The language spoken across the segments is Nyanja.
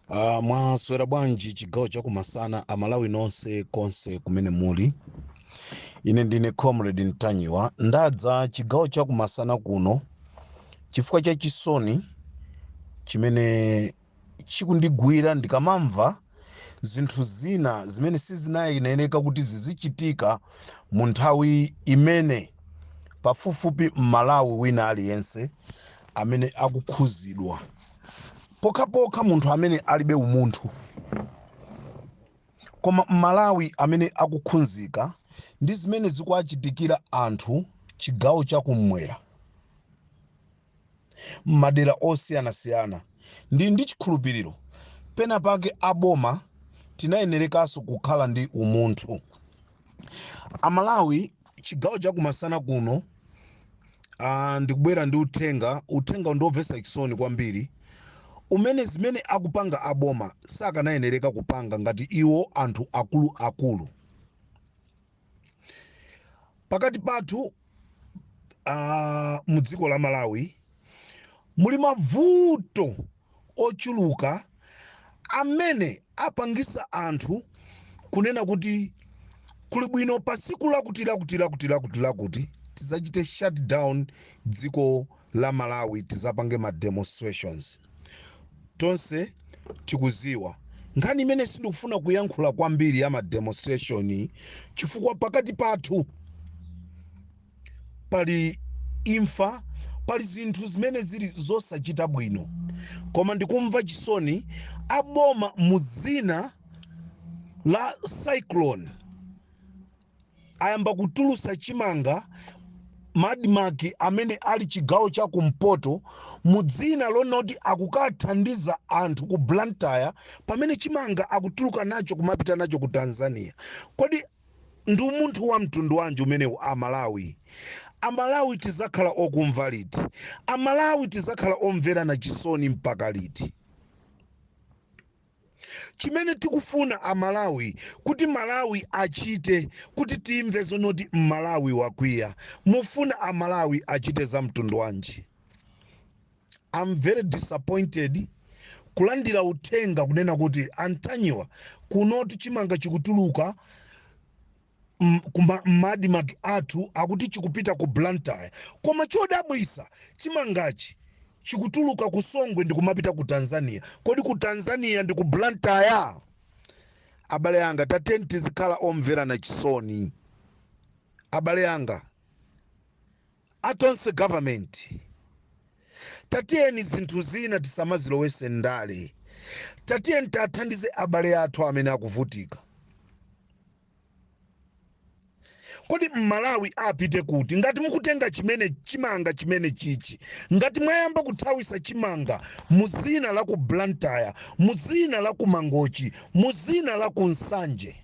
Uh, mwaswera bwanji chigawo chakumasana amalawi nonse konse kumene muli ine ndine comrade ntanyiwa ndadza chigawo chakumasana kuno chifukwa cha chisoni chimene Chikundigwira ndikamamva zinthu zina zimene sizinayenereka kuti zizichitika mu nthawi imene pafupifupi Mmalawi wina aliyense amene akukhuzidwa pokhapokha munthu amene alibe umunthu koma Mmalawi amene akukhunzika ndi zimene zikuachitikira anthu chigawo cha kummwera. m'madera osiyanasiyana. Ndili ndi chikhulupiriro pena pake a boma tinayenerekaso kukhala ndi umunthu. A Malawi chigawo cha kumasana kuno ah, ndikubwera ndi uthenga. Uthengawu ndi womvetsa chisoni kwambiri umene zimene akupanga a boma sakanayenereka kupanga ngati iwo anthu akulu akulu. pakati pathu uh, mu dziko la malawi muli mavuto ochuluka amene apangisa anthu kunena kuti kuli bwino pa siku lakuti lakuti lakuti lakuti lakuti tidzachite shutdown dziko la Malawi tizapange ma demonstrations tonse tikuziwa nkhani imene sindikufuna kuyankhula kwambiri ya ma demonstration chifukwa pakati pathu pali imfa pali zinthu zimene zili zosachita bwino koma ndikumva chisoni aboma muzina la cyclone ayamba kutulutsa chimanga m'ma ADMARC amene ali chigawo cha kumpoto mu dzina lonoti akukathandiza anthu ku blantyre pamene chimanga akutuluka nacho kumapita nacho ku tanzania kodi ndi umunthu wa mtundu wanji umenewu amalawi amalawi tizakhala okumva liti amalawi tizakhala omverana chisoni mpaka liti chimene tikufuna amalawi kuti mmalawi achite kuti timve zonoti mmalawi wakwiya mufuna amalawi achite za mtundu wanji I'm very disappointed kulandira uthenga kunena kuti a Ntanyiwa kunotu chimanga chikutuluka m'ma ADMARC athu akuti chikupita ku blantyre koma chodabwisa chimangachi chikutuluka ku songwe ndikumapita ku tanzania kodi ku tanzania ndi ku blantyre abale anga tatiyeni tizikhala omverana chisoni abale anga a Tonse government tatiyeni zinthu zina tisamazilowese ndale tatiyeni tathandize abale athu amene akuvutika kodi mMalawi apite kuti ngati mukutenga chimene chimanga chimene chichi ngati mwayamba kuthawisa chimanga muzina la ku blantyre muzina la ku mangochi muzina la ku nsanje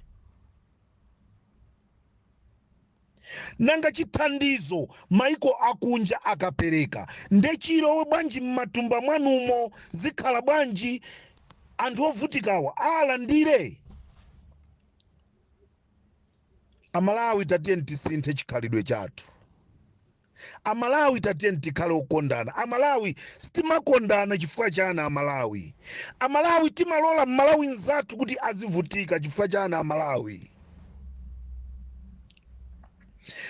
Nanga chithandizo maiko akunja akapereka nde chilowe bwanji mmatumba mwanumo zikhala bwanji anthu ovutikawa aalandire? Amalawi tatiyeni tisinthe chikhalidwe chathu. Amalawi tatiyeni tikhale okondana amalawi sitimakondana chifukwa chani amalawi amalawi timalola mmalawi nzathu kuti azivutika chifukwa chani amalawi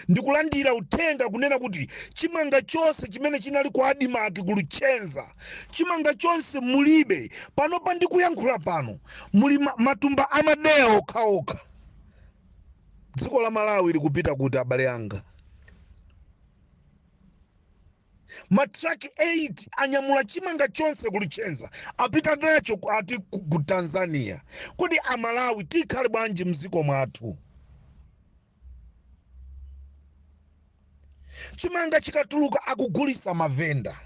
ndikulandira uthenga kunena kuti chimanga chonse chimene chinali ku ADMARC ku Luchenza chimanga chonse mulibe panopa ndikuyankhula pano muli ma- matumba amadeya okhaokha dziko la malawi likupita kuti abale anga matraki 8 anyamula chimanga chonse ku Luchenza apita nacho ku- ati ku ku tanzania kodi amalawi tikhale bwanji mdziko mwathu chimanga chikatuluka akugulisa mavenda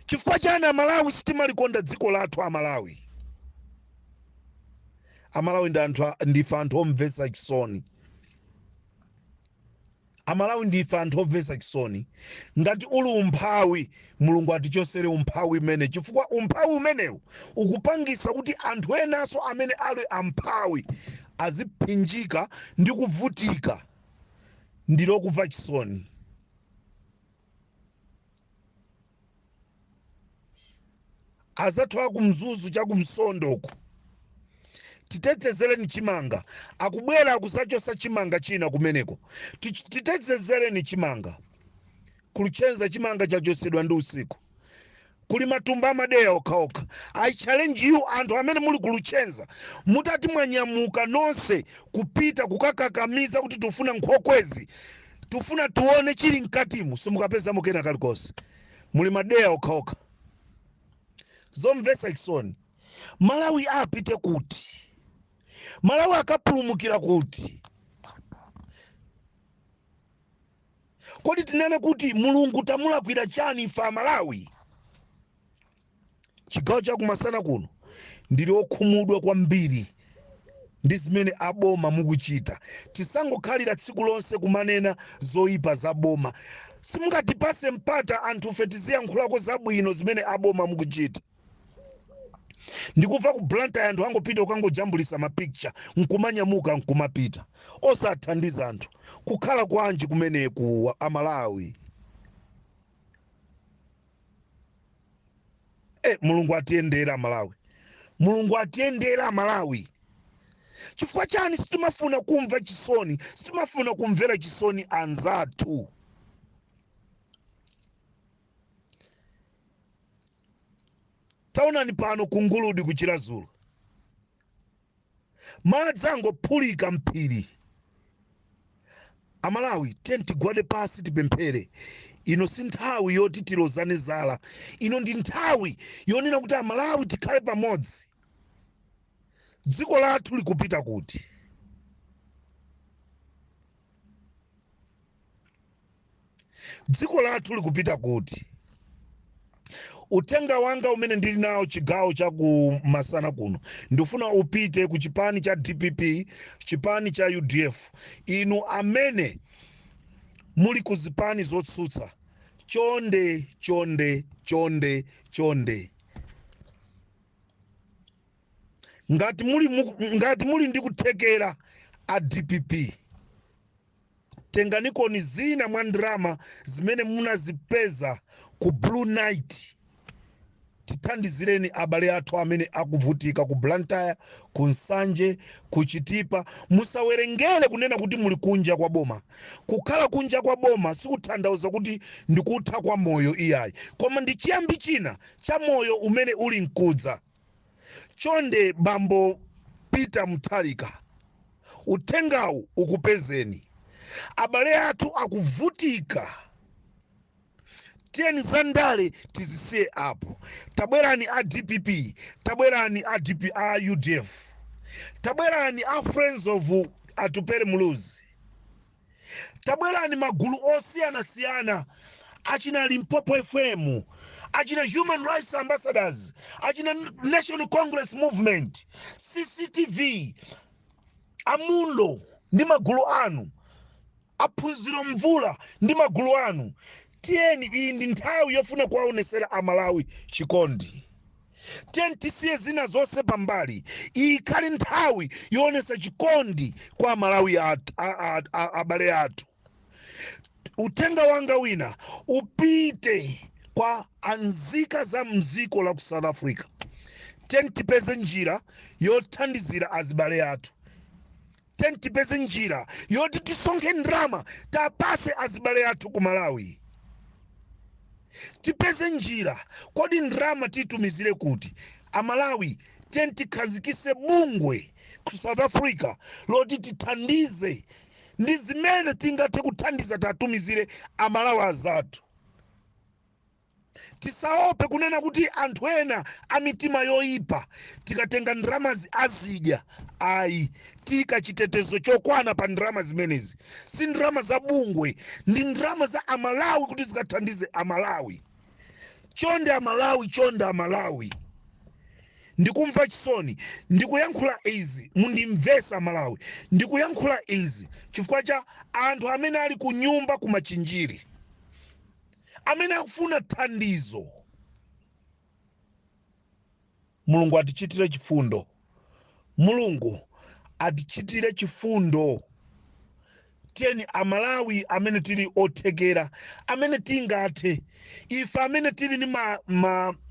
chifukwa chani amalawi sitimalikonda dziko lathu amalawi amalawi ndi anthu a- ndife anthu omvesa chisoni amalawi ndife anthu omvesa chisoni ngati uli umphawi mulungu atichosere umphawi umene chifukwa umphawi umenewu ukupangisa kuti anthu enaso amene ali amphawi aziphinjika ndi kuvutika ndilomvetsa chisoni azathu akumzuzu chakumtondoko titetezereni chimanga akubwera kuzachosa chimanga china kumeneko Tich- titetezereni chimanga ku luchenza chimanga chachosedwa ndi usiku kuli matumba amadeya okhaokha i challenge you anthu amene muli ku luchenza mutati mwanyamuka nonse kupita kukakakamiza kuti tufuna nkhokwezi tufuna tione chili mkatimo simukapezamo kena kalikonse muli madeya okhaokha zomvetsa chisoni malawi apite kuti malawi akapulumukira kuti kodi tinene kuti mulungu tamulakwira chani ife amalawi chigawo chakumasana kuno ndili okhumudwa kwambiri ndi zimene aboma mukuchita tisangokhalira tsiku lonse kumanena zoyipa za boma simungatipase mpata anthufe tiziyankhulako zabwino zimene aboma mukuchita ndikuva ku blantyre anthu angopita ukangojambulisa mapicture nkumanyamuka nkumapita osathandiza anthu kukhala kwanji kumeneku amalawi e mulungu atiyendere amalawi mulungu atiyendere amalawi chifukwa chani sitimafuna kumva chisoni sitimafuna kumvera chisoni anzathu taonani pano ku nguludi ku chiradzulu madzi angophulika m'phiri amalawi tiyeni tigwade pasi tipemphere ino si nthawi yoti tilozane zala ino ndi nthawi yonena kuti amalawi tikhale pamodzi dziko lathu likupita kuti dziko lathu likupita kuti uthenga wanga umene ndili nawo chigawo cha ku masana kuno ndifuna upite ku chipani cha dpp chipani cha udf inu amene muli ku zipani zotsutsa chonde chonde chonde chonde ngati muli, mu- ngati muli ndi kuthekera a dpp tenganikoni zina mwa ndalama zimene munazipeza ku blue night tithandizireni abale athu amene akuvutika ku blantyre ku nsanje ku chitipa musawerengere kunena kuti muli kunja kwa boma kukhala kunja kwa boma sikuthandauza kuti ndikutha kwa moyo iyayi koma ndi chiyambi china cha moyo umene uli mkudza chonde bambo peter mutharika uthengawu ukupezeni abale athu akuvutika tiyeni za ndale tizisiye apo tabwerani a dpp tabwerani a, DP, a udf tabwerani a friends of atupere muluzi tabwerani magulu osiyanasiyana achina limpopo fm achina human rights ambassadors achina national congress movement cctv amundo ndi magulu anu aphunziro mvula ndi magulu anu tiyeni iyi ndi nthawi yofuna kuwaonesera amalawi chikondi tiyeni tisiye zina zonse pambali iyi ikhale nthawi yoonesa chikondi kwa amalawi abale athu uthenga wanga wina upite kwa anzika za mziko la ku south africa tiyeni tipeze njira yothandizira azibale athu tiyeni tipeze njira yoti tisonkhe ndrama tapase azibale athu ku malawi tipeze njira kodi ndrama titumizire kuti amalawi tiyeni tikhazikise bungwe ku south africa loti tithandize ndi zimene tingathe kuthandiza tatumizire amalawi azathu tisaope kunena kuti anthu ena a mitima yoyipa tikatenga ndramazi azidya ayi tiika chitetezo chokwana pa ndrama zimenezi si ndrama za bungwe ndi ndrama za amalawi kuti zikathandize amalawi chonde amalawi chonde amalawi ndikumva chisoni ndikuyankhula izi mundimvesa amalawi ndikuyankhula izi chifukwa cha anthu amene ali kunyumba ku machinjiri amene akufuna thandizo mulungu atichitire chifundo mulungu atichitire chifundo tiyeni amalawi amene tili othekera amene tingathe ife amene tili ni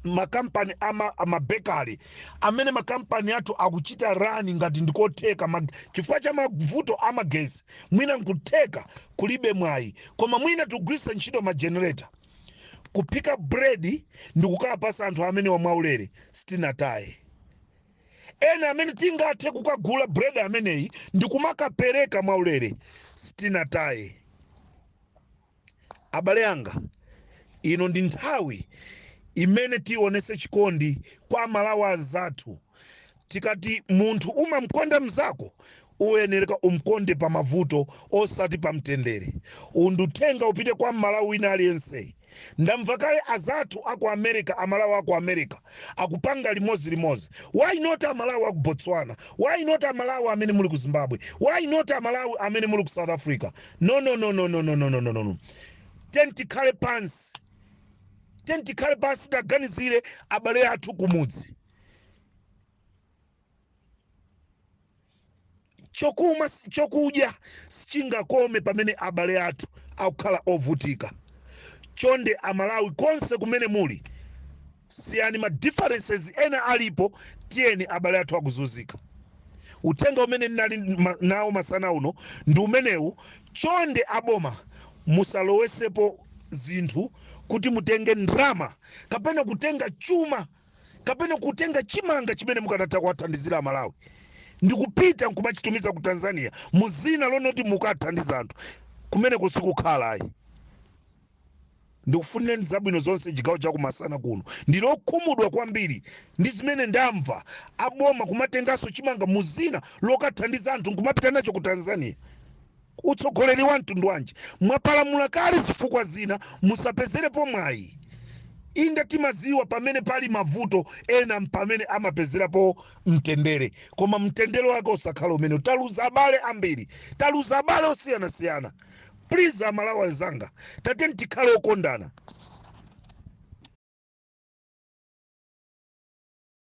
makampani ama bakery amene makampani athu akuchita run ngati ndikotheka chifukwa cha mavuto amagesi mwina nkutheka kulibe mwayi koma mwina tugwisa ntchito ma generator kuphika bread ndikukawapasa anthu amenewa mwaulere sitinataye ena amene tingathe kukagula bread ameneyi ndikumakapereka mwaulere sitinataye abale anga ino ndi nthawi imene tionese chikondi kwa amalawi azathu Tikati munthu umamkonda mzako uyenereka umkonde pa mavuto osati pa mtendere. Uwu ndi uthenga upite kwa m'Malawi wina aliyense. Ndamva kale azathu a ku America, a Malawi a ku America akupanga limodzi limodzi. Why not a Malawi a ku Botswana? Why not a Malawi amene muli ku Zimbabwe? Why not a Malawi amene muli ku South Africa? No, no, no, no. Tiyeni tikhale pansi. Tiyeni tikhale pansi taganizire abale athu kumudzi. chokudya sichingakome pamene abale athu akukhala ovutika chonde amalawi konse kumene muli siyani ma differences ena alipo tiyeni abale athu akuzunzika uthenga umene ndinali nawo masana uno ndi umenewu chonde aboma musalowesepo zinthu kuti mutenge ndrama kapena kutenga chuma kapena kutenga chimanga chimene mukanatha kuwathandizira amalawi ndikupita nkumachitumiza ku tanzania mu zina lonoti mukathandiza anthu kumene kusikukhala ayi ndikufunireni zabwino zonse chigawo chakumasana kuno ndilokhumudwa kwambiri ndi zimene ndamva aboma kumatenganso chimanga mu zina lokathandiza anthu nkumapita nacho ku tanzania utsogoleri wa mtundu wanji mwapalamula kale zifukwa zina musapezerepo mwayi inde timaziwa pamene pali mavuto ena mpamene amapezerapo mtendere koma mtendere wake osakhala umenewu taluza abale ambiri taluza abale osiyanasiyana please amalawi anzanga tateni tikhale okondana